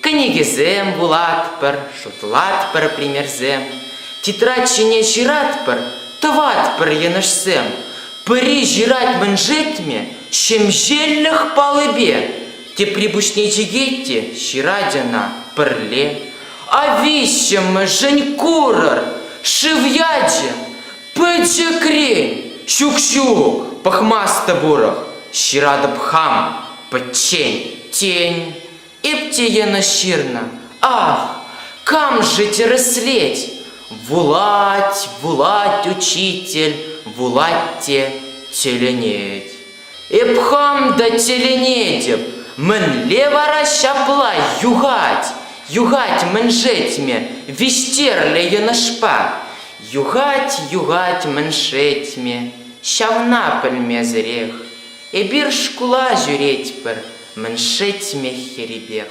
Кӗнекесем вулатпӑр, шутлатпӑр примерсем, тетрадь ҫине ҫыратпӑр, тӑватпӑр йӑнӑшсем. Пӗри ҫырать мӗн шетмӗ, ҫемҫеллӗх палӑпе. Тепри пуҫне чикет те ҫырать ӑна пӗрле. А виҫҫӗмӗшӗн курӑр, шыв ячӗ. Пӗчӗкрен, ҫук-ҫук, пӑхмастӑп урӑх, ҫыратӑп хам, пӗччен. Тен, Эп те йӑнӑш ҫырнӑ, ах, кам-ши тӗрӗслет? Вулать, вулать учитель, вулать те тӗлӗнет. Эп хам та тӗлӗнетӗп, мӗнле вара ҫапла юхать? Юхать мӗншетме виҫтерлӗ йӑнӑшпа? Юхать, юхать мӗншетме, ҫавна пӗлмесӗрех. Эпир шкула ҫӳретпӗр, Мӗншӗ тимех ерипех?